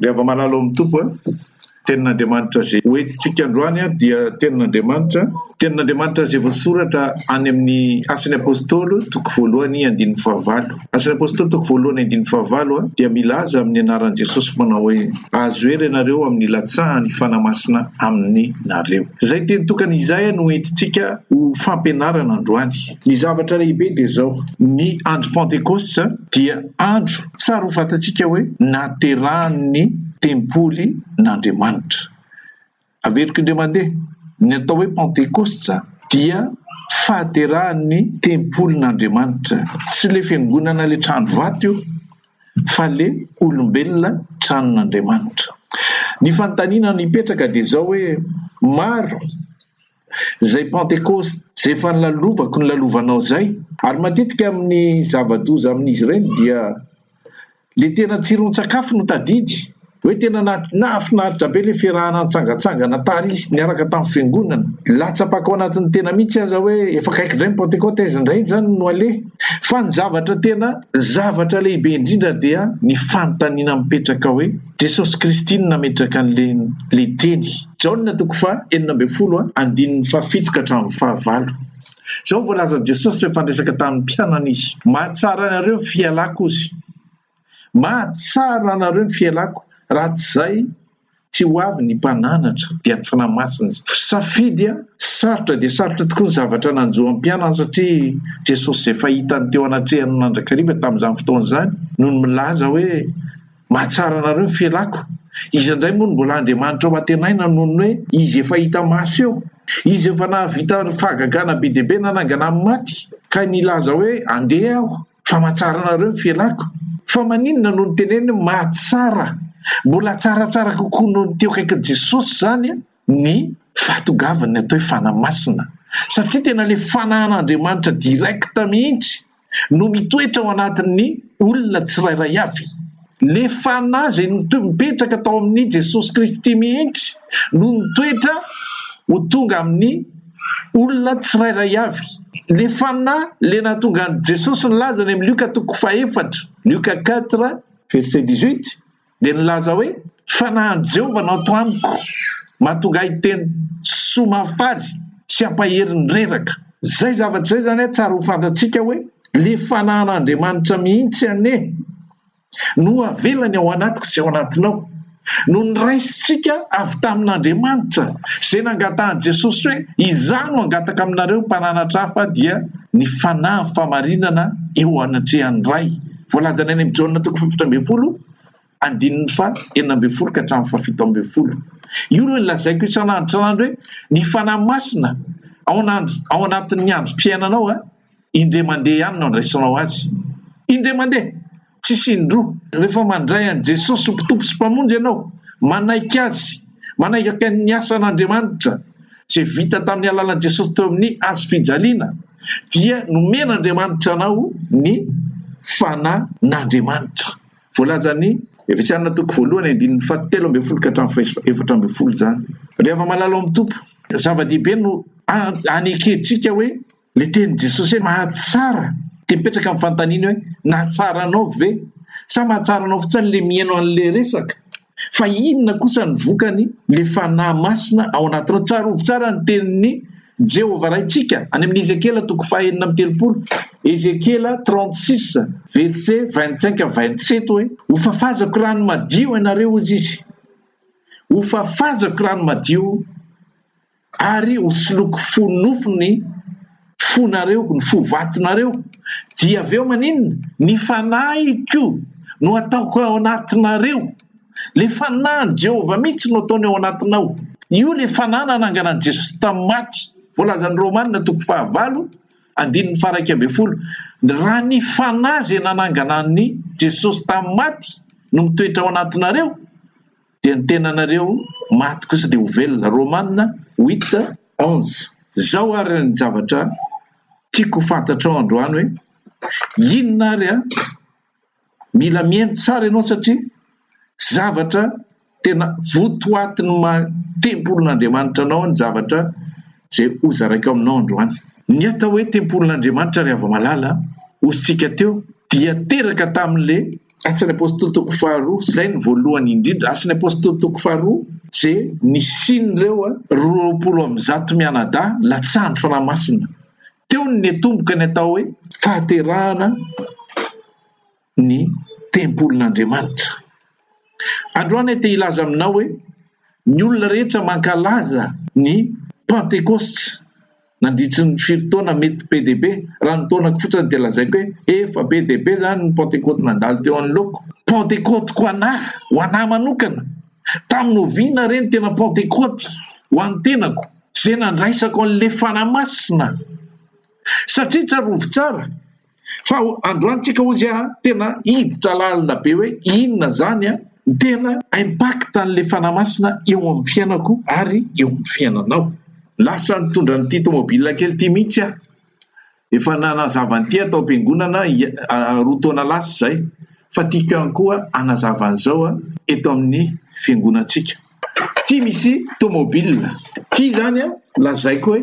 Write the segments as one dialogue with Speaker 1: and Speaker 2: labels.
Speaker 1: Miava malala ao amin'ny Tompo a! Tenin'Andriamanitra izay hoentintsika androany dia Tenin'Andriamanitra, Tenin'Andriamanitra izay voasoratra any amin'ny Asan'ny Apôstôly toko voalohany andininy fahavalo. Asan'ny Apôstôly toko voalohany andininy fahavalo dia milaza amin'ny anaran'i Jesosy manao hoe, Azo hery ianareo amin'ny hilatsahan'ny Fanahy Masina aminareo. Izay teny tokana izay no hoentintsika ho fampianarana androany. Ny zavatra lehibe dia izao, ny andro Pentekosta dia andro tsara ho fantatsika hoe naterahan'ny tempoly n'Andriamanitra. Averiko indray mandeha, ny atao hoe Pentekosta dia fahaterahan'ny tempoly n'Andriamanitra. Tsy ilay fiangonana ilay trano vato io fa ilay olombelona tranon'Andriamanitra. Ny fanontaniana mipetraka dia izao hoe, maro. izay Pantekosta, izay efa nolalovako, nolalovanao izay. Ary matetika amin'ny zava-doza amin'izy ireny dia ilay tena tsiron-tsakafo no tadidy, hoe tena nahafinaritra be ilay fiarahana nitsangantsangana tary niaraka tamin'ny fiangonana, latsapako ao anatin'ny tena mihitsy aza hoe efa akaiky indray ny Pantekosta, aiza indray izany no aleha? Fa ny zavatra tena zavatra lehibe indrindra dia ny fanontaniana mipetraka hoe. Jesosy Kristy no nametraka an'ilay Teny. Jaona toko faha enina ambin'ny folo andininy faha fito ka hatramin'ny faha valo. Izao no voalazan'i Jesosy rehefa niresaka tamin'ny mpianany Izy, Mahatsara anareo ny fialako Ozy. Mahatsara anareo ny fialako, raha tsy izay tsy ho avy ny Mpananatra, dia ny Fanahy Masina Izy. Safidy sarotra dia sarotra tokoa ny zavatra nanjo an'ny mpianany satria Jesosy izay fahitany teo anatrehan'ny mandrakariva tamin'izany fotoana izany no milaza hoe, Mahatsara anareo ny felako. Iza indray moa no mbola Andriamanitra ho antenaina noho ny hoe Izy efa hita maso eo? Izy efa nahavita fahagagana be dia be nanangana amin'ny maty ka nilaza hoe andeha aho fa mahatsara anareo ny felako. Fa maninona no niteneniny hoe mahatsara? Mbola tsaratsara kokoa noho ny teo akaikin'i Jesosy izany an! ny fahatogavan'ny atao hoe fanahy masina satria tena ilay fanahin'Andriamanitra direct mihitsy no mitoetra ao anatin'ny olona tsirairay avy. Ilay fanahy izay nipetraka tao amin'i Jesosy Kristy mihitsy no mitoetra ho tonga amin'ny olona tsirairay avy. Ilay fanahy ilay nahatonga an'i Jesosy nilaza any amin'ny Lioka toko fahefatra, Lioka quatre, verset dix-huit, dia nilaza hoe, Fanahin'i Jehovah no ato amiko, mahatonga ahy hiteny soa mahafaly sy hampahery ny reraka. Izay zavatra izay izany an, tsara ho fantatsika hoe ilay fanahin'Andriamanitra mihitsy anie no avelany ao anatiko sy ao anatinao, no noraisintsika avy tamin'Andriamanitra, izay nangatahan'i Jesosy hoe, Izaho no hangataka aminareo mpananatra hafa dia ny fanahy famarinana eo anatrehan'ny Ray. Voalazany any amin'ny Jaona toko fahafito ambin'ny folo andininy faha enina ambin'ny folo ka hatramin'ny faha fito ambin'ny folo. Io no lazaiko isan'andro isan'andro hoe ny Fanahy Masina ao an'andro ao anatin'ny androm-piainanao a! indray mandeha ihany no andraisanao azy. Indray mandeha! Tsisy indroa. Rehefa mandray an'i Jesosy ho Mptompo sy Mpamonjy ianao, manaiky Azy, manaiky ny asan'Andriamanitra izay vita tamin'ny alalan'i Jesosy teo amin'ny hazo fijaliana, dia nomen'Andriamanitra anao ny Fanan'Andriamanitra. Voalazan'i Efesiana toko voalohany andininy fahatelo ambin'ny folo ka hatramin'ny fahefatra ambin'ny folo izany. Ry hava-malala ao amin'ny Tompo, zava-dehibe no anekentsika hoe ilay tenin'i Jesosy hoe mahatsara, dia mipetraka amin'ny fanontaniana hoe nahatsara anao ve? Sa mahatsara anao fotsiny ilay mihaino an'ilay resaka? Fa inona kosa ny vokany? Ilay Fanahy Masina ao anatinao. Tsarovy tsara ny tenin'i Jehovah Raintsika any amin'ny Ezekiela toko fahenina amby telopolo, Ezekiela 36 versets 25 à 27 hoe, Hofafazako rano madio ianareo, hozy Izy. Hofafazako rano madio. Ary hosoloiko fo nofo ny fonareo, ny fo vatonareo, dia avy eo maninona? Ny fanahiko no hataoko ao anatinareo. Ilay fanahin'i Jehovah mihitsy no ataony ao anatinao. Io ilay fanahy nanangana an'i Jesosy tamin'ny maty. Voalazan'ny Romana toko fahavalo andininy faha-iraika ambin'ny folo, Raha ny fanahy izay nanangana an'i Jesosy tamin'ny maty no mitoetra ao anatinareo, dia ny tenanareo maty kosa dia ho velona. Romana huit onze. Zao ary ny zavatra tiako ho fantatrao androany hoe inona ary an? Mila mihaino tsara ianao satria zavatra tena votoatin'ny maha tempolin'Andriamanitra anao ny zavatra izay ho zaraiko aminao androany. Ny atao hoe tempolin'Andriamanitra ry hava-malala an, hosintsika teo dia teraka tamin'le. Asan'ny Apôstôly toko faharoa, izay no voalohany indrindra, Asan'ny Apôstôly toko faharoa, je, ny sian'ireo roapolo amby zato mianadahy latsahan'ny Fanahy Masina. Teo no niatomboka ny atao hoe fahaterahana ny tempolin'Andriamanitra. Androany aho te hilaza aminao hoe ny olona rehetra mankalaza ny Pantekosta. Nandritry ny firy taona mety be dia be? Raha ny taonako fotsiny dia lazaiko hoe efa be dia be izany ny Pantekoty nandalo teo anoloako. Pantekoty ko anà, ho anà manokana. Tamin'ny oviana re ny tena Pantekoty ho an'ny tenako? Izay nandraisako an'ilay Fanahy Masina. Satria tsarovy tsara. Fa androany tsika hozy a tena hiditra lalina be hoe inona zany a ny tena impact an'le fanahy masina eo amin'ny fiainako ary eo amin'ny fiainanao. Lasa nitondra an'ity tomobile kely ity mihitsy aho, efa nanazava an'ity aho tao am-piangonana roa taona lasa izay fa tiako ihany koa hanazava an'izao aho eto amin'ny fiangonantsika. Ity misy tomobile, ity izany a lazaiko hoe.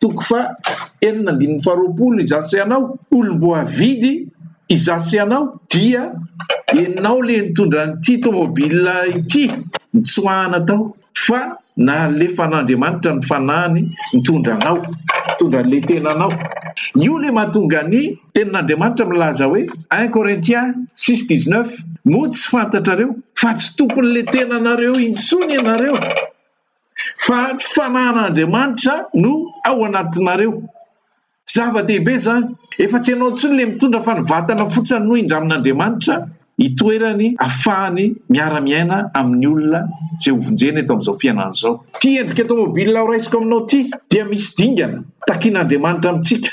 Speaker 1: Toko faha enina andininy faha roapolo Izaho sy ianao, olom-boavidy, Izaho sy ianao, dia ianao ilay nitondra an'ity tômôbila ity nitsoahana tao, fa nalefan'Andriamanitra ny fanahiny nitondra anao, nitondra an'ilay tenanao. Io ilay mahatonga ny Tenin'Andriamanitra milaza hoe, un Corinthiens six dix neuf, Moa tsy fantatrareo fa tsy tompon'ilay tenanareo intsony ianareo? Fa ny fanahan'Andriamanitra no ao anatinareo. Zava-dehibe izany. Efa tsy ianao intsony ilay mitondra fa ny vatana fotsiny no indramin'Andriamanitra itoerany afahany miara-miaina amin'ny olona izay hovonjena eto amin'izao fiainana izao. Ity endrika tomobilina horaisiko aminao ity dia misy dingana takian'Andriamanitra amintsika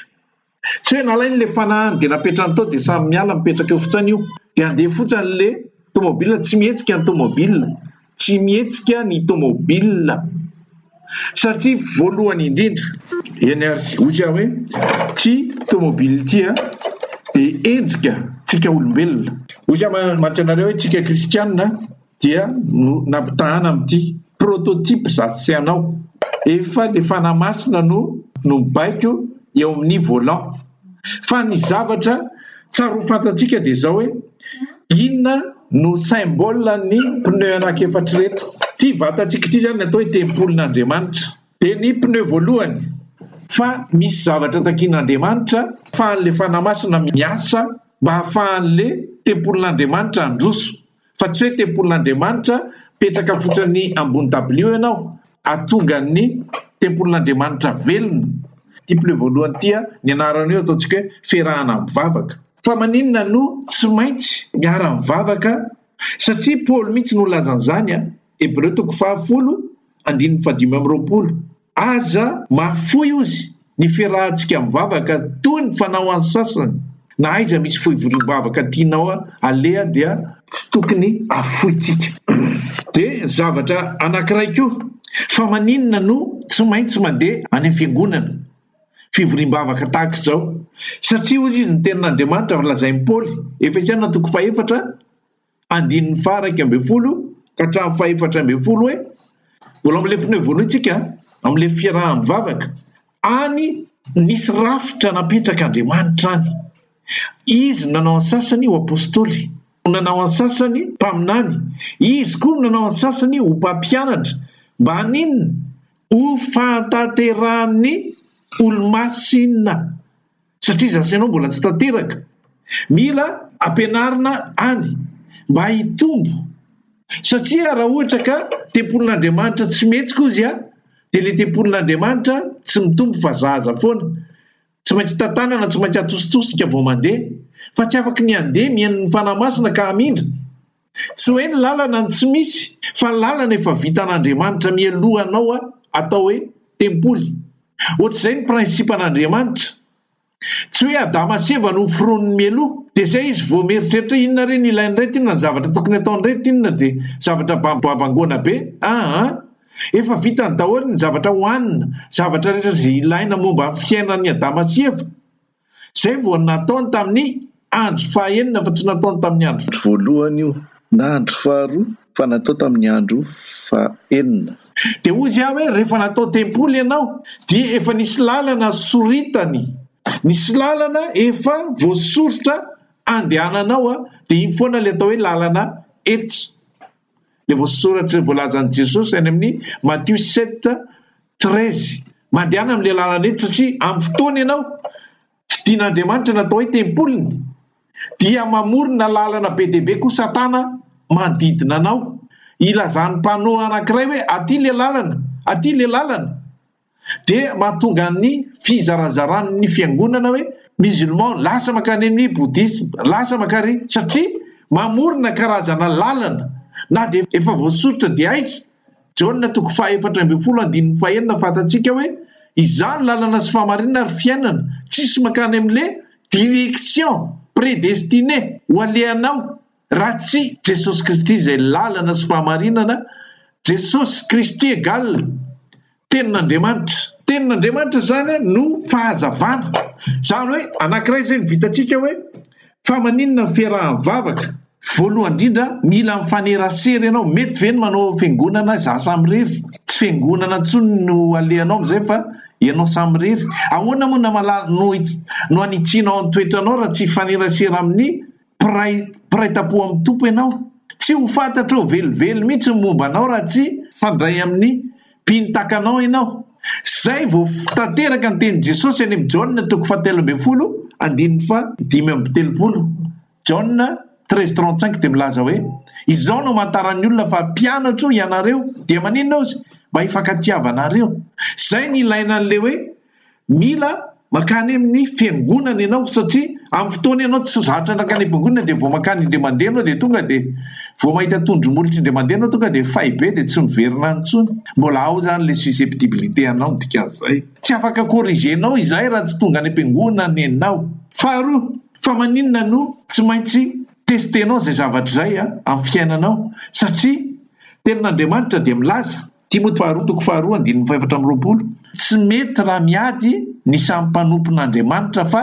Speaker 1: tsy hoe nalainy le fanahiny de napetrany tao de samy miala mipetraka eo fotsiny io de andeha fotsiny le tomobil tsy mihetsika ny tomobil tsy mihetsika ny tomobil satria voalohany indrindra eny ary hoy aho hoe ty tomobil ity a de endrika tsika olombelona hoy aho mantsy anareo hoe tsika kristianina dia no nampitahana amin'ity prototype za sy anao efa le fanahy masina no no mibaiko eo amin'ny volant fa ny zavatra tsary ho fantatsika dia zao hoe inona no symbole ny pneu anak'efatra reto ty vatantsika ity zany atao hoe tempolin'Andriamanitra dia ny pneu voalohany fa misy zavatra takian'Andriamanitra fa an'le fanahy masina miasa mba hahafahan'le tempolin'Andriamanitra handroso fa tsy hoe tempolin'Andriamanitra mipetraka fotsiny ambony dabilio ianao ahatonga ny tempolin'Andriamanitra velona. Ity pile voalohany ity a, ny anarany io ataontsika hoe fiarahana mivavaka. Fa maninona no tsy maintsy miara mivavaka? Satria Paoly mihitsy no nilaza an'izany a, Hebreo toko faha folo andininy fahadimy amby roapolo. Aza mahafoy ozy ny fiarahantsika mivavaka toy ny fanao an'ny sasany, na aiza misy foivoriam-bavaka tianao aleha dia tsy tokony afointsika. Dia zavatra anankiray koa, fa maninona no tsy maintsy mandeha any amin'ny fiangonana fivoriam-bavaka tahaka izao? Satria hoy izy ny tenin'Andriamanitra lazain'i Paoly, Efesiana toko fahefatra andininy faha iraika ambin'ny folo ka hatramin'ny faha efatra ambin'ny folo hoe mbola amin'ilay pneu voalohany isika amin'ilay fiaraha-mivavaka any nisy rafitra napetrak'Andriamanitra any izy no nanao an-tsasany ho apostoly no nanao an-tsasany mpaminany izy koa no nanao an-tsasany ho mpampianatra mba haninona ho fahatanterahan'ny olomasina satria zasy anao mbola tsy tanteraka mila ampianarina any mba hitombo satria raha ohatra ka tempolin'Andriamanitra tsy mety kozy a dia le tempolin'Andriamanitra tsy mitombo fa zaza foana tsy maintsy tantanana tsy maintsy atositosika vao mandeha fa tsy afaka ny andeha mihaino ny fanahy masina ka hamindra Tsy hoe ny lalana no tsy misy fa ny lalana efa vitan'Andriamanitra mialoha anao a atao hoe tempoly. Ohatr'izay ny principan'Andriamanitra. Tsy hoe Adama sy Eva no foroniny mialoha dia zay izy vao mieritreritra inona re ny ilain'ireto inona ny zavatra tokony ataon'ireto inona dia zavatra babangoana be aa efa vitany daholo ny zavatra hohanina zavatra rehetra zay ilaina momba ny fiainan'i Adama sy Eva. Izay vao nataony tamin'ny andro fahaenina fa tsy nataony tamin'ny andro. Voalohany io,
Speaker 2: na andro faharoa fa natao tamin'ny andro fahaenina. Dia hoy Izy
Speaker 1: hoe, Rehefa natao tempoly ianao, dia efa nisy lalana soritany, nisy lalana efa voasoritra andehananao, dia iny foana ilay atao hoe lalana ety Ilay voasoratra voalazan'i Jesosy any amin'ny Matio sept treize. Mandehana amin'ilay lalana etsy satria amin'ny fotoana ianao fidin'Andriamanitra natao hoe tempoliny dia mamorona lalana be dia be koa Satana manodidina anao hilazan'ny mpanoa anankiray hoe aty ilay lalana, aty ilay lalana. dia mahatonga ny fizarazaran' ny fiangonana hoe musulman lasa mankany amin' ny bouddhisme, lasa mankany, satria mamorona karazana lalana na dia efa voasoritra dia aiza? Jaona toko fahaefatra ambin'ny folo andininy fahenina fantatsika hoe izany lalana sy fahamarinana ary fiainana tsisy mankany amin' le direction predestinee ho alehanao. Raha tsy Jesosy Kristy izay lalana sy fahamarinana, Jesosy Kristy egal Tenin'Andriamanitra. Tenin'Andriamanitra izany no fahazavana. Izany hoe anankiray izay no vitantsika hoe fa maninona ny fiarahan'ny vavaka? Voalohany indrindra, mila mifanerasera ianao. Mety ve ny manao fiangonana izaho samirery? Tsy fiangonana intsony no alehanao amin'izay fa ianao samirery. Ahoana moa no hamala-, no hanitsianao ny toetranao raha tsy hifanerasera amin'ny Mpiray mpiray tampo amin'ny Tompo ianao. Tsy ho fantatrao velively mihitsy ny momba anao raha tsy hifandray amin'ny mpino tahaka anao ianao. Izay vao tanteraka ny tenin'i Jesosy any amin'ny Jaona toko fahatelo ambin'ny folo andininy fahadimy amby telopolo. Jaona treize trente cinq dia milaza hoe, Izao no amantaran'ny olona fa mpianatro ianareo, dia maninona ozy? Mba hifankatiavanareo. Izay no ilaina an'ilay hoe Mila mankany amin'ny fiangonana ianao satria amin'ny fotoana ianao tsy zatra nankany am-piangonana dia vao mankany indray mandeha ianao dia tonga dia vao mahita tondro molitra indray mandeha ianao tonga dia fay be dia tsy miverina any intsony. Mbola ao izany ilay susceptibilité anao ny dikan'izay. Tsy afaka corriger-nao izay raha tsy tonga any am-piangonana ianao. Faharoa, fa maninona no tsy maintsy tester-nao izay zavatra izay amin'ny fiainanao satria tenin'Andriamanitra dia milaza Timoty faharoa toko faharoa andininy fahefatra amby roapolo, Tsy mety raha miady ny samy mpanompon'Andriamanitra fa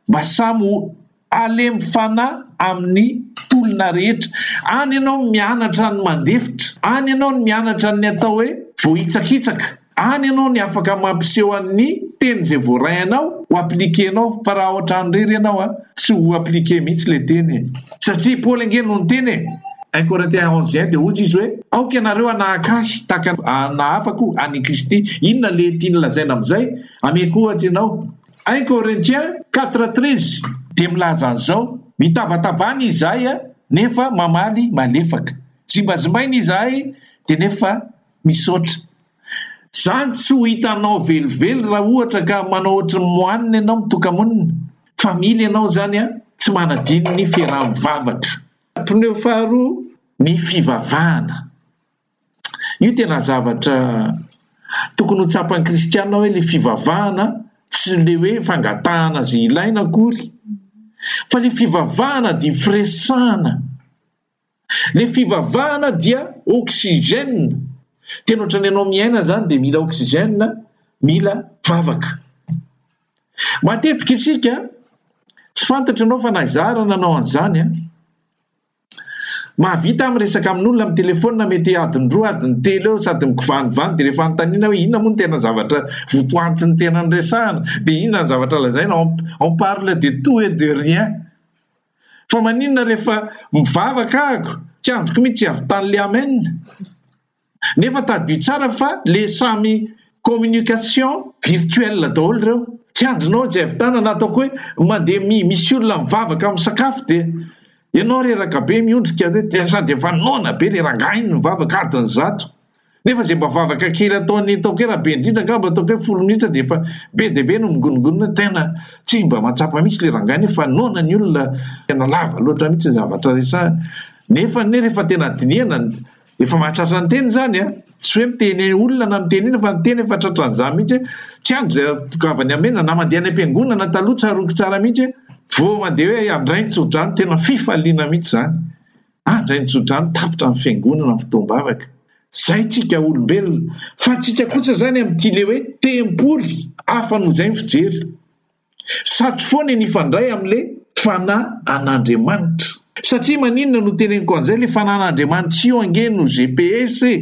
Speaker 1: mba samy ho halemy fanahy amin'ny tolona rehetra. Any ianao no mianatra ny mandefitra, any ianao no mianatra ny atao hoe voahitsakitsaka, any ianao no afaka mampiseho an'ny teny izay voaray anao ho appliquer-nao fa raha ohatrany irery ianao a! tsy ho appliquer mihitsy ilay teny e! Satria i Paoly ange no niteny e! Un Corinthiens onze un dia hozy izy hoe, Aoka ianareo hanahaka ahy tahaka ny nahafako an' i Kristy. Inona ilay tiany lazaina amin'izay? Ameko ohatra ianao. Un Corinthiens quatre treize dia milaza an'izao, Mitavatabana izahay an, nefa mamaly malefaka. Zimbazimbaina izahay dia nefa misaotra. Zany tsy ho hitanao velively raha ohatra ka manao ohatry ny moanina ianao mitoka-monina fa mila ianao izany an! Tsy manadino ny fiaraha-mivavaka. Pneu faharoa ny fivavahana. Io tena zavatra tokony ho tsapan'ny kristiana hoe ilay fivavahana tsy ilay hoe fangatahana izay ilaina akory fa ilay fivavahana dia firesahana. Le fivavahana dia oxygène, tena ohatran'ny ianao miaina zany dia mila oxygène, mila vavaka. Matetika isika, tsy fantatro ianao fa na izaho ary nanao an'izany an, mahavita aho miresaka amin'olona amin'ny telefaonina mety adin-droa adiny telo eo sady mikovanivany dia rehefa anontaniana hoe inona moa ny tena zavatra votoantin'ny tena niresahana dia inona ny zavatra lazaina, on parle de tout et de rien. Fa maninona rehefa mivavaka ahako tsy andriko mitsy hiavitany le amen nefa tadidio tsara fa le samy communication virtuelle daholo reo tsy andrinao tsy hiavitana na ataoko hoe mande mi misy olona mivavaka am sakafo de enao reraka be miondrika de sady efa noana be le rangah iny mivavaka adiny zato Nefa izay mba vavaka kely ataon'ny taoke raha be indrindra angamba ataoko hoe folo minitra dia efa be dia be no mingoningonina tena tsy mba mahatsapa mihitsy le rangahy anie fa noana ny olona tena lava loatra mihitsy ny zavatra resahany nefa anie rehefa tena dinihana efa mahatratra ny teny zany a tsy hoe miteny olona na miteny ina fa ny teny efa tratran'izany mihitsy tsy andro izay tokavany amena na mandeha any am-piangonana taloha tsaroako tsara mihitsy vao mandeha hoe andrainy tsodrano tena fifaliana mihitsy zany ary indray ny tsodrano tapitra ny fiangonana ny fotoam-bavaka. Izay tsika olombelona, fa tsika kosa izany amin'ity le hoe tempoly hafa noho izay ny fijery. Sato foana ny hifandray amin'le fanahy an'Andriamanitra. Satria maninona no teneniko an'izay, le fanahin'Andriamanitra io ange no GPS e!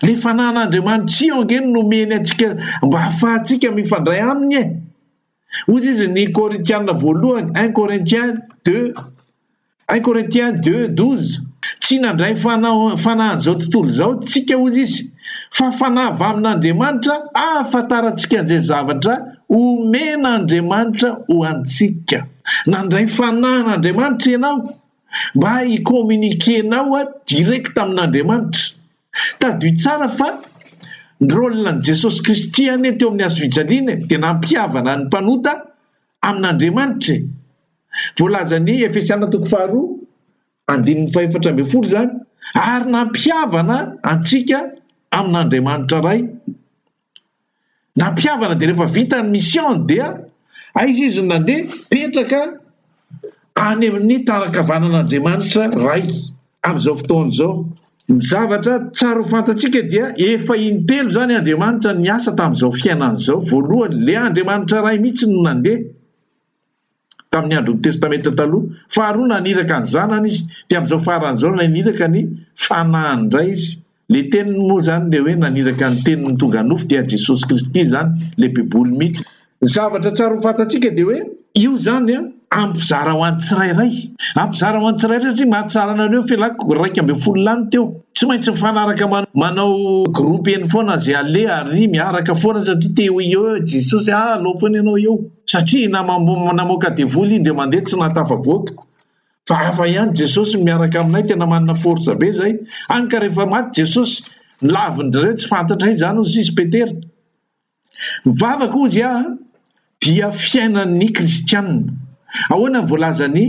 Speaker 1: Le fanan'Andriamanitry io ange no nomeny antsika mba hahafahantsika mifandray aminy e. Hoy izy ny Korintiana voalohany, un Corinthiens deux, un Corinthiens deux douze, tsy nandray fanahy fanahin'izao tontolo izao tsika hoy izy, fa fanahy avy amin'Andriamanitra ahafantarantsika an'izay zavatra omen'Andriamanitra ho antsika. Nandray fanan'Andriamanitra ianao? Mba hi communiquer nao a direct amin'Andriamanitra. Tadidio tsara fa ny rôle an'i Jesosy Kristy anie teo amin'ny hazo fijaliana e, dia nampihavana ny mpanota amin'Andriamanitra e. Voalazan'i Efesiana toko faharoa andininy fahefatra ambin'ny folo izany, ary nampihavana antsika amin'Andriamanitra Ray. Nampihavana dia rehefa vita ny mission-ny dia aiza izy no nandeha? Mipetraka any amin'ny tanan-kavanan'Andriamanitra Ray amin'izao fotoana izao. Ny zavatra tsara ho fantatsika dia efa in-telo izany Andriamanitra niasa tamin'izao fiainana izao. Voalohany, ilay Andriamanitra Ray mihitsy no nandeha. tamin'ny andron'ny Testamenta Taloha. Faharoa naniraka ny Zanany Izy, dia amin'izao farany izao ilay niraka ny Fanahiny indray Izy. Ilay Teniny moa izany, ilay hoe naniraka ny Teniny tonga nofo, dia Jesosy Kristy izany, ilay Baiboly mihitsy. Ny zavatra tsara ho fantatsika dia hoe io izany hampizara ho an'ny tsirairay. Hampizara ho an'ny tsirairay satria mahatsara anareo felako iraika ambin'ny folo lany teo. Tsy maintsy mifanaraka manao groupe eny foana izay aleha ary miaraka foana satria te ho eo Jesosy, ah alao foana ianao eo. satria namoaka devoly indray mandeha tsy nahatafavoaka fa hafa ihany Jesosy no miaraka aminay tena manana force be zay hany ka rehefa maty Jesosy lavindreo tsy fantatray zany ho sisy Petera mivava koa izy aho dia fiainan'ny kristianina ahoana voalazan'ny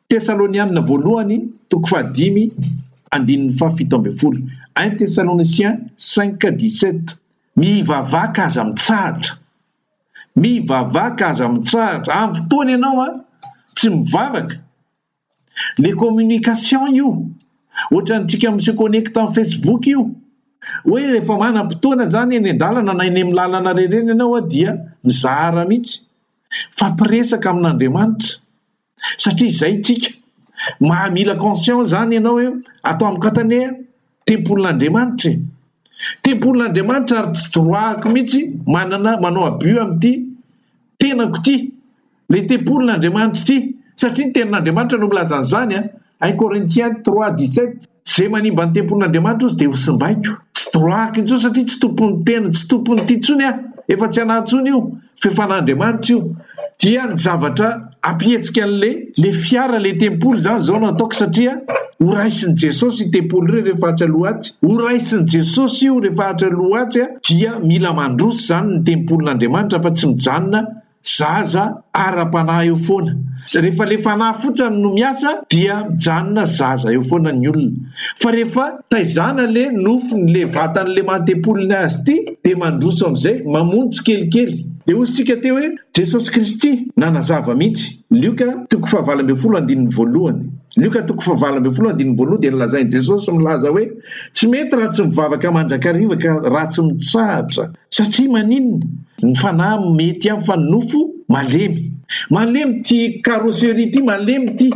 Speaker 1: tesalonianina voalohany toko fahadimy andininy fahafito ambin'ny folo un tesaloniciens 5 17 mivavaka aza mitsahatra Mivavaka aza mitsahatra am fotoana ianao a! Tsy mivavaka! Le communication io! Ohatran'ny tsika mi se connecte am facebook io! Hoe rehefa manam potoana zany eny an-dalana na eny am lalana rerena ianao a dia mizara mitsy! Mifampiresaka amin'Andriamanitra! satria izay ntsika maha mila conscient izany ianao hoe ato amiko ato anie tempolin'Andriamanitra e! Tempolin'Andriamanitra ary tsy droit-ako mihitsy manana manao abus amin'ity tenako ity, ilay tempolin'Andriamanitra ity satria ny tenin'Andriamanitra no milaza an'izany an! I Corinthiens trois dix sept. Izay manimba ny tempolin'Andriamanitra ozy dia ho simbaiko. Tsy droahako intsony satria tsy tompon'ny tena, tsy tompon'ity intsony aho. Efa tsy anahy intsony io, fe fanan'Andriamanitra io. Dia ny zavatra ampihetsika an'le le fiara le tempoly izany izao no ataoko satria ho raisin'i Jesosy io tempoly io rehefa atsy aloha atsy. Ho raisin'i Jesosy io rehefa atsy aloha atsy dia mila mandroso izany ny tempolin'Andriamanitra fa tsy mijanona Zaza ara-panahy eo foana. Rehefa le fanahy fotsany no miasa dia mijanona zaza eo foana ny olona. Fa rehefa taizana le nofony le vatany le maha-tempolin'ny azy ity de mandroso amizay, mamono tsikelikely. De hoy isika teo hoe Jesosy Kristy nanazava mihitsy, Lioka toko fahavalo ambin'ny folo andininy voalohany. Lioka toko fahavalo ambin'ny folo andininy voalohany dia nilazain'i Jesosy milaza hoe, Tsy mety raha tsy mivavaka mandrakariva ka raha tsy mitsahatra. Satria maninona? Ny fanahy mety ihany fa ny nofo malemy. Malemy ity carrosserie ity, malemy ity.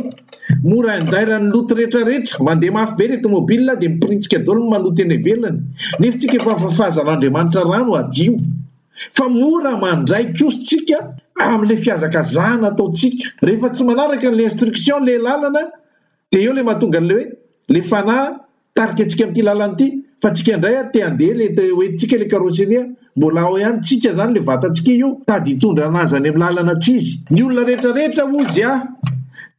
Speaker 1: Mora indairan'ny loto rehetra rehetra. Mandeha mafy be ilay tomobilina dia mipiritsika daholo ny maloto eny ivelany. Ny hefintsika efa fahafahazan'Andriamanitra rano hadio. fa mora mandray kosa tsika amle fihazakazahana ataontsika rehefa tsy manaraka le instruction le lalana de eo le mahatonga anle hoe le fanahy tarika antsika amty lalana ity fa tsika indray a te ande le te ho entintsika le carosserie a mbola ao ihany tsika zany le vatantsika io tady hitondra anazy any am lalana tsy izy ny olona rehetra rehetra ozy a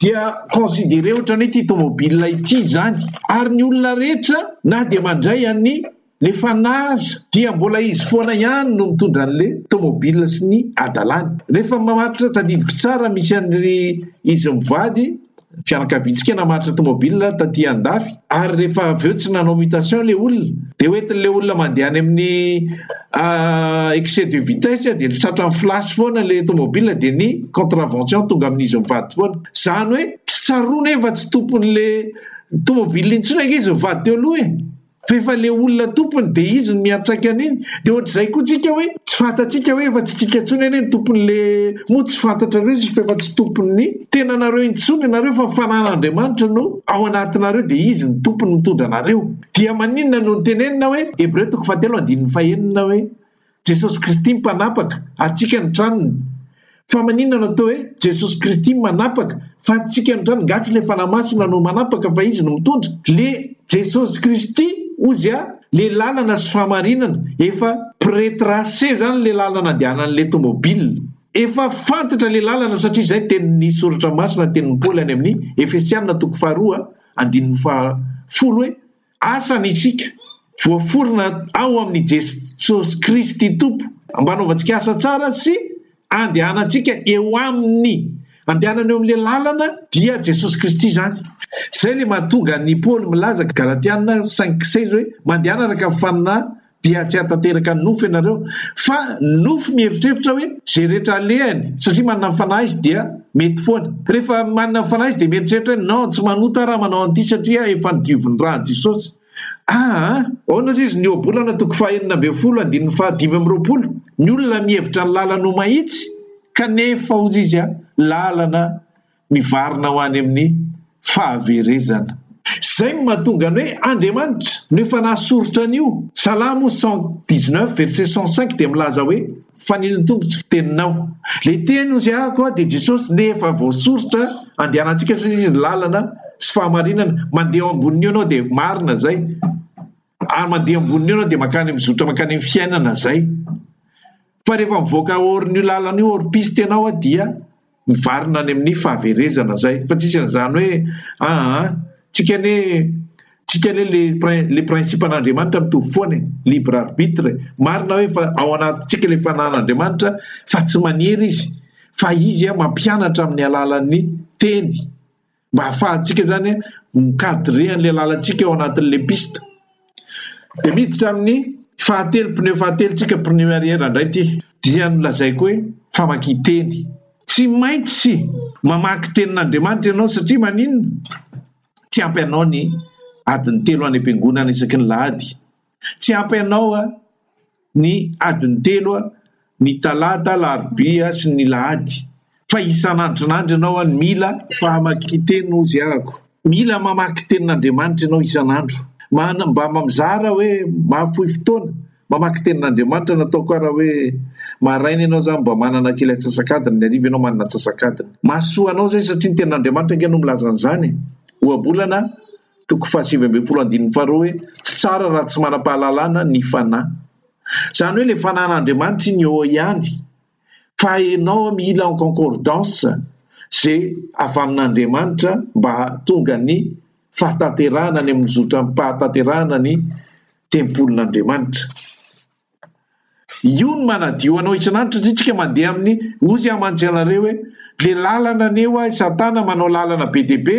Speaker 1: dia considerer ohatrany hoe ity tomobile ity zany ary ny olona rehetra na dia mandray any Le fanaza dia mbola izy foana ihany no mitondra anle tomobil sy ny adalany. Refa mamatotra tadidiko tsara misy anry izy mivady fianakaviantsika namatotra tomobil taty andafy ary refa avy eo tsy nanao mutation le olona de hoentinle olona mandeha any aminy excès de vitesse de tratran'ny flash foana le tomobil de ny contravention tonga amin'izy mivady foana. Zany hoe tsy tsaroana hoe efa tsy tomponle tomobil intsony ange izy mivady teo aloha e! Rehefa le olona tompony de izy no miantraika an'iny de ohatr'izay koa tsika hoe tsy fantatsika hoe efa tsy tsika tsony anie ny tompony le moa tsy fantatrareo izy f'efa tsy tompon'ny tenanareo intsony nareo fa fanan'Andriamanitra no ao anatinareo de izy ny tompony mitondra anareo dia maninona no nitenenina hoe Hebreo toko fahatelo andininy fahenina hoe Jesosy Kristy Mpanapaka, antsika ny tranony. Fa maninona no atao hoe Jesosy Kristy Manapaka fa antsika ny tranony? Nga tsy le Fanahy Masina no manapaka fa Izy no mitondra? Le Jesosy Kristy Ozy a, le lalana sy fahamarinana, efa pre-trace zany le lalana andehanan'le tomobile. Efa fantatra le lalana satria zay tenin'ny Soratra Masina, tenin'i Paoly any amin'ny Efesiana toko faharoa andininy faha folo hoe, Asa ny isika, voaforona ao amin'i Jesosy Kristy Tompo, mba hanaovantsika asa tsara sy handehanantsika eo Aminy. Andehanana eo amin'ilay lalana dia Jesosy Kristy izany. Izay ilay mahatonga an'i Paoly milaza, Galatiana cinq, seize, hoe, Mandehana araka ny fanina dia tsy hahatanteraka nofo ianareo fa ny nofo mieritreritra hoe izay rehetra alehany satria manana ny fanahy izy dia mety foana. Rehefa manana ny fanahy izy dia mieritreritra hoe non tsy manota aho raha manao an'ity satria efa nodiovin'ny ran'i Jesosy. Ah! Aona aza izy ny Ohabolana toko fahenina ambin'ny folo andininy faha dimy amby roapolo, ny olona mihevitra ny lalany ho mahitsy kanefa hozy izy ah, lalana mivarina ho any amin'ny fahaverezana. Izay no mahatonga ny hoe Andriamanitra no efa nahasoritra an'io. Salamo cent dix neuf verset cent cinq dia milaza hoe, Fanilo tongotro fiteninao. Ilay teny hosiahako aho dia Jesosy no efa voasoritra andehanantsika satria Izy no lalana sy fahamarinana. Mandeha eo ambonin'io ianao dia marina izay. ary mandeha amboniny eo ianao dia mankany mizotra mankany amin'ny fiainana izay. Fa rehefa mivoaka hors-n'io lalana io, hors piste ianao dia mivarina any amin'ny fahaverezana izay. Fa tsy misy an'izany hoe aa, tsika anie, tsika anie le prin, le principe an'Andriamanitra mitovy foana e, libre arbitre. Marina hoe fa ao anatintsika ilay fanahin'Andriamanitra fa tsy manery izy, fa izy mampianatra amin'ny alalan'ny teny. mba hahafahantsika zany mi-cadrer an'ilay lalantsika ao anatin'ilay piste. Dia miditra amin'ny fahatelo, pneu fahatelo tsika, pneu arrière indray ity. Dia nolazaiko hoe famakian-teny. Tsy maintsy mamaky tenin'Andriamanitra ianao satria maninona? Tsy ampy anao ny adiny telo any am-piangonana isaky ny lahady Tsy ampy anao a! Ny adiny telo a! Ny talata, alarobia sy ny lahady. Fa isan'andron'andro ianao a! Mila fahamakin-teny hozy ahako. Mila mamaky tenin'Andriamanitra ianao isan'andro. Mana, mba mizara hoe mahafoy fotoana mamaky tenin'Andriamanitra. Nataoko ara hoe maraina ianao zany mba manana kely antsasak'adiny, ny hariva ianao manana antsasak'adiny. Mahasoa anao zay satria ny tenin'Andriamanitra ange no milaza an'izany e! Ohabolana a! toko fahasivy ambin'ny folo andininy faharoa hoe tsy tsara raha tsy manam-pahalalana ny fanahy. Izany hoe ilay fanahin'Andriamanitra iny eo ihany fa enao mila en concordance izay avy amin'Andriamanitra mba hahatonga ny fahatanterahana any amin'ny zotram-pahatanterahana ny tempolin'Andriamanitra. Io no manadio anao isan'andro satria tsika mandeha amin'ny ozy amantsy anareo hoe le lalana anie hoa i satana manao lalana be dia be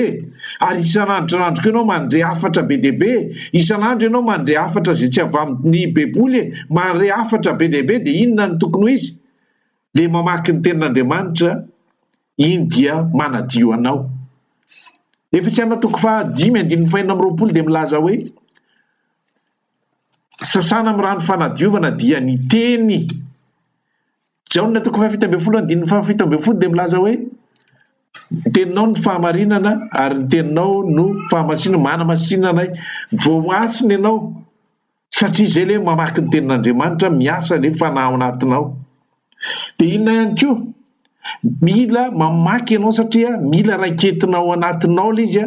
Speaker 1: ary isan'andro isan'andro koa ianao mandre hafatra be dia be isan'andro ianao mandre hafatra izay tsy avy amin'ny baiboly e mandre hafatra be dia be dia inona no tokony ho izy le mamaky ny tenin'Andriamanitra iny dia manadio anao Efesiana toko faha dimy andininy fahenina amby roapolo dia milaza hoe Sasana amin'ny rano fanadiovana dia ny teny. Jaona toko fahafito ambin'ny folo andininy fahafito ambin'ny folo dia milaza hoe ny teninao no fahamarinana ary ny teninao no fahamasinana, manamasina anay. Voahasina ianao satria izay ilay mamaky ny tenin'Andriamanitra, miasa ilay fanahy ao anatinao. Dia inona ihany koa? Mila mamaky ianao satria mila raiketina ao anatinao ilay izy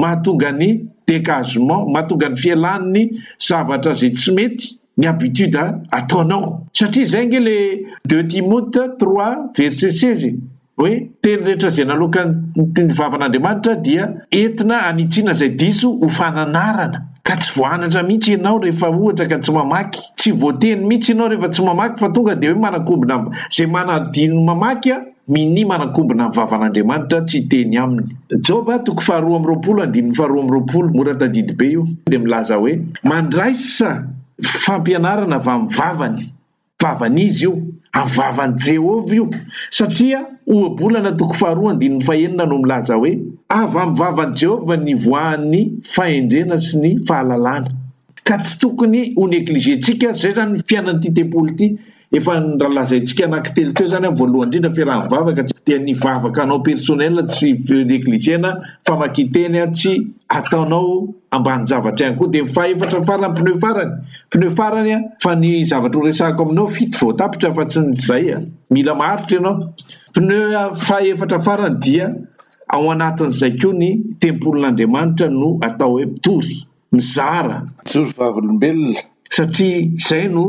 Speaker 1: mahatonga ny degagement, mahatonga ny fialan'ny zavatra izay tsy mety, ny habitude ataonao. Satria izay ange ilay deux Timote trois verset seize e! Hoe teny rehetra izay naloakan'ny toy ny vavan'Andriamanitra dia entina hanitsiana izay diso ho fananarana. Ka tsy voanatra mihitsy ianao rehefa ohatra ka tsy mamaky. Tsy voateny mihitsy ianao rehefa tsy mamaky fa tonga dia hoe manankombona am, izay manadino mamaky an, minia manankombona amin'ny vavan'Andriamanitra tsy hiteny aminy. Joba toko faharoa amby roapolo andininy faharoa amby roapolo, mora tadidy be io, dia milaza hoe mandraisa fampianarana avy amin'ny vavany. Vavan'iza io? Amin'ny vavan'i Jehovah io, satria Ohabolana toko faharoa andininy fahenina no milaza hoe, Avy amin'ny vavan'i Jehovah no ivoahan'ny fahendrena sy ny fahalalana. Ka tsy tokony ho negligentsika izay izany ny fiainan'ity tempoly ity. Efa nolazaintsika anankitelo teo izany, voalohany indrindra, fiarahan'ny vavaka, dia ny vavaka anao personnel tsy negliger-na, famakian-teny tsy ataonao, ambany zavatra ihany koa dia ny fahefatra farany pneu farany pneu farany a fa ny zavatra ho resahako aminao fito vao tapitra fa tsy ny zay a mila maharitra ianao pneu fahefatra farany dia ao anatin'izay koa ny tempolin'Andriamanitra no atao hoe mpitory mizara jorovavolombelona
Speaker 2: satria
Speaker 1: izay no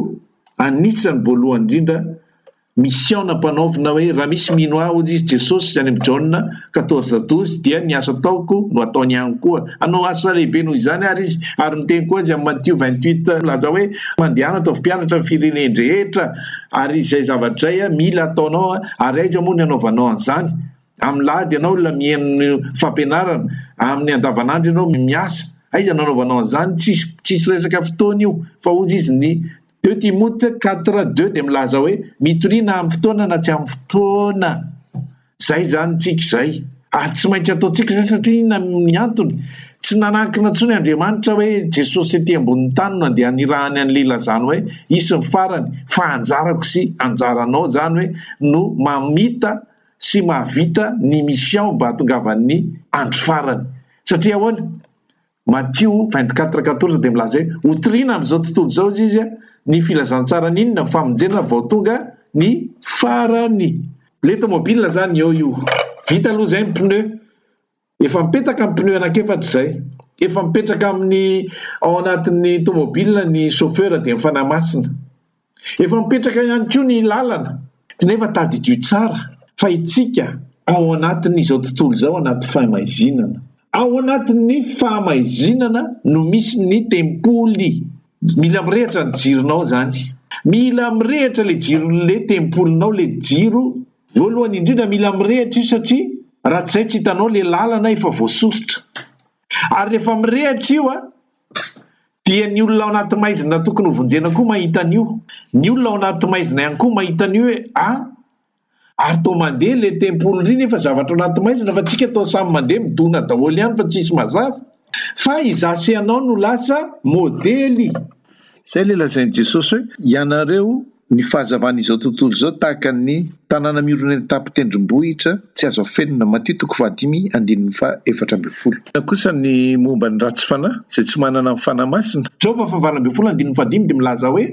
Speaker 1: anisany voalohany indrindra Mission nampanaovina hoe raha misy mino ahy hoy izy Jesosy any amin'ny Jaona quatorze douze dia ny asa ataoko no ataony ihany koa. Hanao asa lehibe noho izany ary izy ary miteny koa izy amin'ny Matio vingt huit milaza hoe mandehana ataovy mpianatra ny firenen-drehetra ary izay zavatra izay mila ataonao ary aiza moa ny hanaovanao an'izany amin'ny lahady ianao olona mihaino ny fampianarana amin'ny andavanandro ianao miasa aiza no hanaovanao an'izany tsisy tsisy resaka fotoana io fa hoy izy ny Deux Timote quatre deux dia milaza hoe, Mitoriana amin'ny fotoana na tsy amin'ny fotoana. Izay izany tsika izay. Ary tsy maintsy ataontsika izay satria inona ny antony? Tsy nanankina intsony Andriamanitra hoe Jesosy ety ambonin'ny tany no andeha hanirahany an'ilay ilazany hoe hisy ny farany fa anjarako sy anjaranao izany hoe no mamita sy mahavita ny mission mba hahatongavan'ny andro farany. Satria ahoana? Matio vingt quatre quatorze dia milaza hoe, Hotorina amin'izao tontolo izao, hoy izy, ny filazantsaran'ny inona ny famonjena vao tonga ny farany. Letomobile izany eo io. Vita aloha izay ny pneu. Efa mipetaka ny pneu anankiefatra izay. Efa mipetraka amin'ny ao anatin'ny tomobile ny chauffeur dia ny fanahy masina. Efa mipetraka ihany koa ny lalana nefa tadidio tsara fa itsika ao anatin'izao tontolo izao anaty fahamaizinana. Ao anatin'ny fahamaizinana no misy ny tempoly. Mila mirehitra ny jironao zany. Mila mirehitra le jiron'le tempolinao le jiro voalohany indrindra mila mirehitra io satria raha tsy zay tsy hitanao le lalana efa voasosotra. Ary rehefa mirehitra io a Dia ny olona ao anaty maizina tokony ho vonjena koa mahita an'io. Ny olona ao anaty maizina ihany koa mahita an'io hoe a! ary toa mandeha ilay tempoly ry nefa zavatra ao anaty maizina fa tsika toa samy mandeha midona daholo ihany fa tsisy mazava fa izaho sy ianao no lasa modely. Izay ilay
Speaker 2: lazain'i Jesosy hoe, Ianareo, ny fahazavan'izao tontolo izao tahaka ny tanàna miorina eny an-tapon-tendrombohitra tsy azo afenina. Matio toko fahadimy andininy fahaefatra ambin'ny folo. Inona kosa ny momba ny ratsy fanahy, izay tsy manana ny Fanahy Masina? Joba fahavalo ambin'ny folo
Speaker 1: andininy fahadimy dia milaza hoe,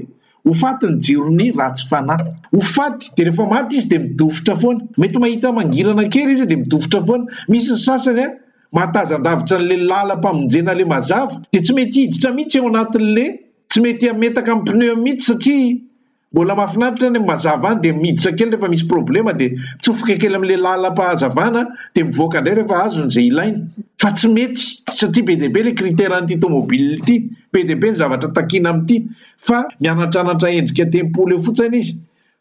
Speaker 1: Ho faty ny jiron'ny ratsy fanahy. Ho faty, dia rehefa maty izy dia midofotra foana. Mety mahita mangirana kely izy dia midofotra foana. Misy ny sasany Mahatazan-davitra an'le lalam-pamonjena le mazava dia tsy mety hiditra mihitsy ao anatin'le tsy mety hametaka amin'ny pneu mihitsy satria mbola mahafinaritra any amin'ny mazava any dia miditra kely rehefa misy problema dia mitsofoka kely amin'le lalam-pahazavana dia mivoaka indray rehefa azony izay ilainy fa tsy mety satria be dia be le critère an'ity tomobile ity be dia be ny zavatra takiana amin'ity fa mianatranatra endrika tempoly eo fotsiny izy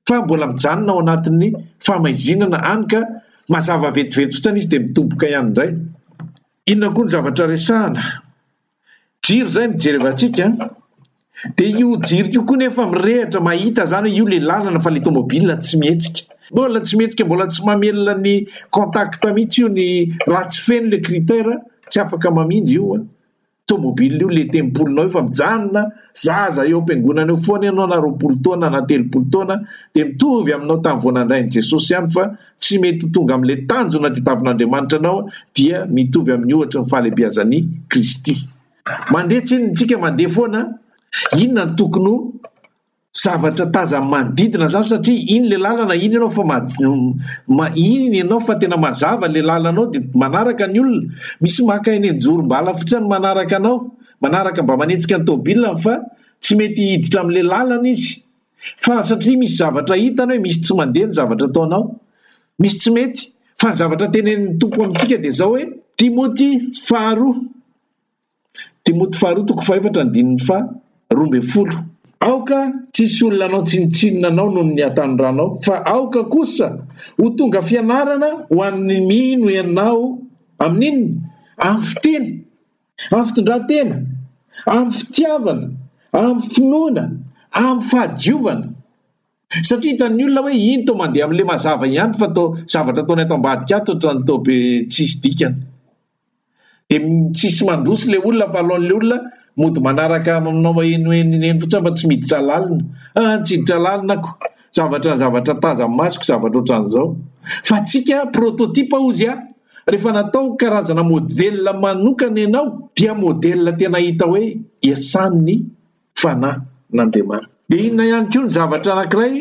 Speaker 1: fa mbola mijanona ao anatin'ny famaizinana any ka mazava vetivety fotsiny izy dia midoboka ihany indray. Inona koa ny zavatra resahana? Jiro izay mijery avy antsika dia io jiro io koa nefa mirehatra mahita izany hoe io ilay lalana fa ilay tomobilina tsy mihetsika. Mbola tsy mihetsika, mbola tsy mamelona ny contact mihitsy io ny raha tsy feno ilay critère tsy afaka mamindra io. tomobil io le tempolinao efa mijanona zaza eo am-piangonana eo foana ianao na roapolo taona na telopolo taona dia mitovy aminao tamin'ny vao nandrain'i Jesosy ihany fa tsy mety ho tonga amin'ilay tanjona tadiavin'Andriamanitra anao dia mitovy amin'ny ohatry ny fahalebiazan'i Kristy mandeha tsinona isika mandeha foana inona ny tokony ho zavatra tazany manodidina zany satria iny le lalana iny ianao fa ma iny ianao fa tena mazava le lalanao de manaraka ny olona misy maka eny an-jorom-bala fotsiny ny manaraka anao manaraka mba manenjika ny tomobilany fa tsy mety hiditra amle lalana izy fa satria misy zavatra hitany hoe misy tsy mandeha ny zavatra ataonao misy tsy mety fa ny zavatra tenenin'ny tompo amintsika de zao hoe Timoty faharoa Timoty faharoa toko fahefatra andininy faha roa ambin'ny folo. Aoka tsy hisy olona hanao tsinontsinona anao noho ny hatanranao, fa aoka kosa ho tonga fianarana ho an'ny mino ianao amin'ny inona? Amin'ny fiteny, amin'ny fitondran-tena, amin'ny fitiavana, amin'ny finoana, amin'ny fahadiovana. Satria hitan'ny olona hoe iny toa mandeha amin'ilay mazava ihany fa toa zavatra ataony ato ambadika ato ohatran'ny toa be tsisy dikany. dia tsisy mandroso ilay olona fa alohan'ilay olona mody manaraka manao mahenoheno eny fotsiny aho fa tsy miditra lalina, ah tsy hiditra lalina ako, zavatra zavatra tazan'ny masoko zavatra ohatran'izao, fa antsika prototype hozy aho, rehefa natao karazana modèle manokana ianao dia modèle tena hita hoe iasan'ny. fananan'Andriamanitra. Dia inona ihany koa ny zavatra anankiray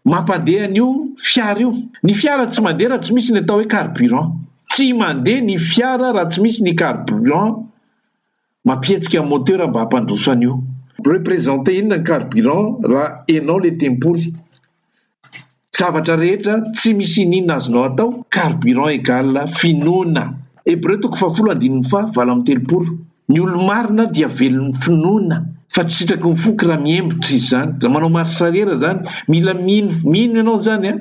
Speaker 1: mampandeha an'io fiara io? Ny fiara tsy mandeha raha tsy misy ny atao hoe carburant. Tsy mandeha ny fiara raha tsy misy ny carburant mampihetsika ny moteur mba hampandroso an'io. Representer inona ny carburant raha enao le tempoly? Zavatra rehetra tsy misy iniana azonao atao, carburant égale finoana. Hebreo toko fahafolo andininy faha valo amby telopolo. Ny olo-marina dia velon'ny finoana fa tsy sitraky ny foko raha mihemotra izy izany, raha manao marche arrière izany. Mila mino, mino ianao izany an!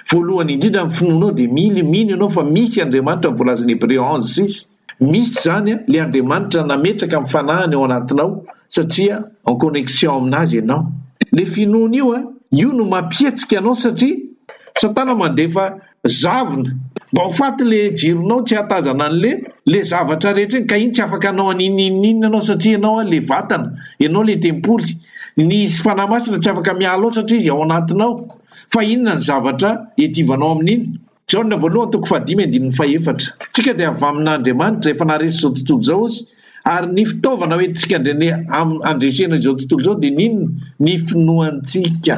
Speaker 1: Voalohany indrindra ny finoanao dia mily, mino ianao fa misy Andriamanitra ny voalazan'i Hebreo ange six. Misy izany an, le Andriamanitra nametraka ny fanahiny ao anatinao satria en connexion aminazy ianao. Le finoana io an, io no mampihetsika anao satria satana mandefa zavona mba ho faty le jironao tsy ahatazana anle le zavatra rehetra iny ka iny tsy afaka hanao an'inon'inon'inona ianao satria ianao an le vatana, ianao le tempoly. Ny fanahy masina tsy afaka miala ao satria izy ao anatinao fa inona ny zavatra iadivanao amin'iny? Jaona voalohany toko fahadimy andininy fahefatra. Tsika dia avy amin' Andriamanitra efa naharesy izao tontolo izao Izy, ary ny fitaovana ho entintsika andrene am andresena izao tontolo izao dia ny inona? Ny finoantsika.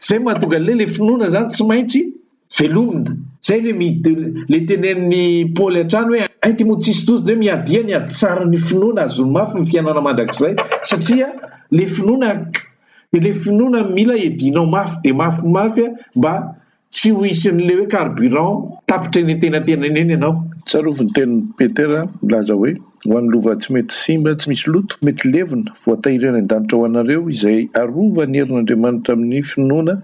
Speaker 1: Izay mahatonga an'ilay ilay finoana izany tsy maintsy velomina. Izay ilay mi de ilay tenenin'i Paoly hatrany hoe ay ty moa tsisy doza dia hoe miadia ny haditsarin'ny finoana hahazoany mafy ny fiainana mandrakizay satria ilay finoana ak dia ilay finoana mila edinao mafy dia mafy mafy a mba Tsy ho isin'ilay hoe carburant tapitra eny antenantenany eny ianao. Tsarovy ny tenin'i
Speaker 2: Petera nilaza hoe, Ho an'ny lova tsy mety simba, tsy misy loto, mety levona, voatahiry any an-danitra ho anareo izay arova ny herin'Andriamanitra amin'ny finoana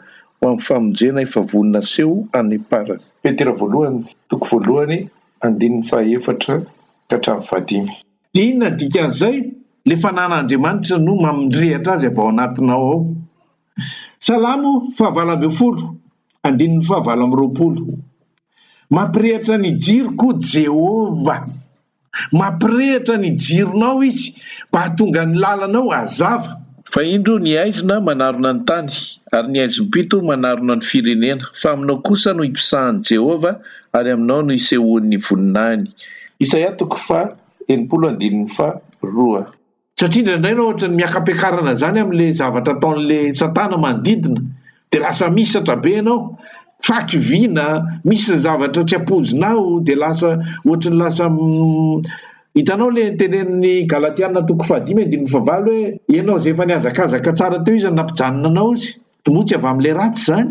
Speaker 2: ho amin'ny famonjena efa vonona haseho any am-parany. Petera voalohany, toko voalohany, andininy fahaefatra ka hatramin'ny fahadimy. Dia inona ny
Speaker 1: dikan'izay? Ilay fananan'Andriamanitra no mamindrehitra azy avy ao anatinao ao. Salamo fahavalo ambin'ny folo, andininy fahavalo amby roapolo. Mampirehitra ny jiro koa Jehovah. Mampirehitra ny jironao izy mba hahatonga ny lalanao hazava. Fa indro ny
Speaker 2: haizina manarona ny tany, ary ny haizim-pito manarona ny firenena, fa aminao kosa no ipisahan'i Jehovah, ary aminao no isehoan'ny voninahiny. Isaia toko faha enimpolo andininy faha roa. Satria indraindray
Speaker 1: na ohatran'ny miaka-piakarana izany amin'ilay zavatra ataon'ilay satana manodidina dia lasa misatra be ianao, faky vina, misy ny zavatra tsy ampoizinao dia lasa ohatran'ny lasa Hitanao ilay tenenin'ny Galatiana toko fahadimy andininy fahavalo hoe ianao izay efa nihazakazaka tsara teo izy no nampijanona anao izy, moa tsy avy amin'ilay ratsy izany?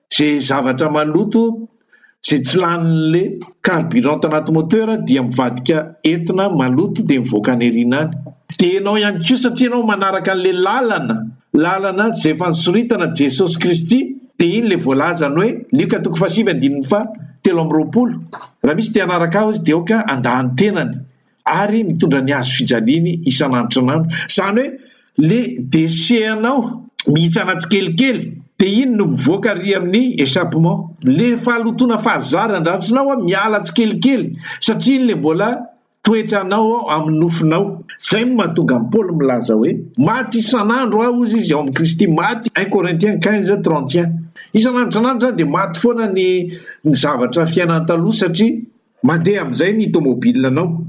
Speaker 1: Ze zavatra maloto ze tsy laninle carburant tanaty moteur dia mivadika entina maloto dia mivoaka any arina any. Dia enao ihany koa satria enao manaraka anle lalana, lalana ze efa nisoritana Jesosy Kristy dia iny le voalazany hoe Lioka toko fahasivy andininy faha telo amby roapolo, raha misy te hanaraka ahy hozy dia aoka handà ny tenany. ary mitondra ny hazo fijaliany isan'androntr'anandro zany hoe le déchet anao mihitsana tsikelikely de iny no mivoaka ary amin'ny échappement le fahalotoana fahazara andratsinao a miala tsikelikely satria iny le mbola toetra anao ao amin'ny nofonao zay no mahatonga an'i paoly milaza hoe maty isan'andro aho ozy izy ao amin'i kristy maty un corinthiens quinze trente et un isan'androntr'anandro zany de maty foana ny ny zavatra fiainana taloha satria Mandeha amin'izay ny tomobilinanao.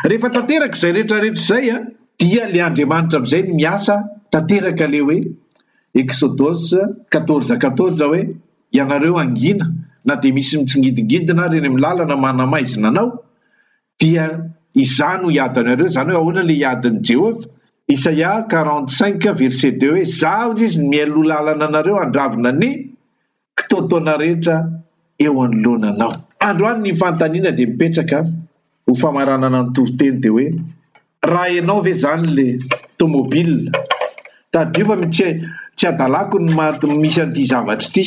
Speaker 1: Rehefa tanteraka izay rehetra rehetra izay an, dia le Andriamanitra amin'izay no miasa tanteraka le hoe Exodus quatorze quatorze hoe, ianareo angina na dia misy mitsingidingidina ary eny amin'ny lalana manamaizina anao dia izaho no hiady anareo, izany hoe ahoana le hiadin'i Jehovah? Isaia quarante cinq verset deux hoe, izaho hozy izy no mialoha lalana anareo handravona ny kitoatoana rehetra eo anoloana anao. Androany ny fanontaniana dia mipetraka ho famaranana ny toriteny dia hoe raha ianao ve izany le tomobilina? Tadidio fa tsy tsy adalako ny maha misy an'ity zavatra ity,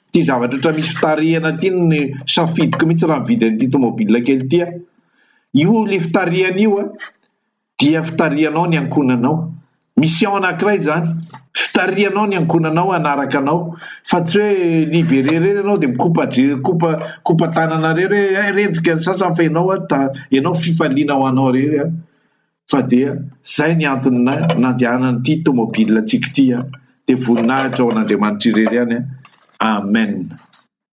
Speaker 1: ity zavatra ohatra misy fitarihana ity no safidiko mihitsy raha mividy an'ity tomobilina kely ity aho. Io le fitarihana io an! dia fitarihanao ny ankohonanao. Mission anankiray izany, fitarihanao ny ankohonanao hanaraka anao fa tsy hoe libéré irery ianao dia mikopa dre, mikopa, mikopa tanana irery hoe hay rendrika ny sasany fa ianao ary ta, ianao fifaliana ho anao irery an! Fa dia izay ny antony na, nandehanan'ity tomobile antsika ity an! Dia voninahitra ho an'Andriamanitra irery ihany an! Amen!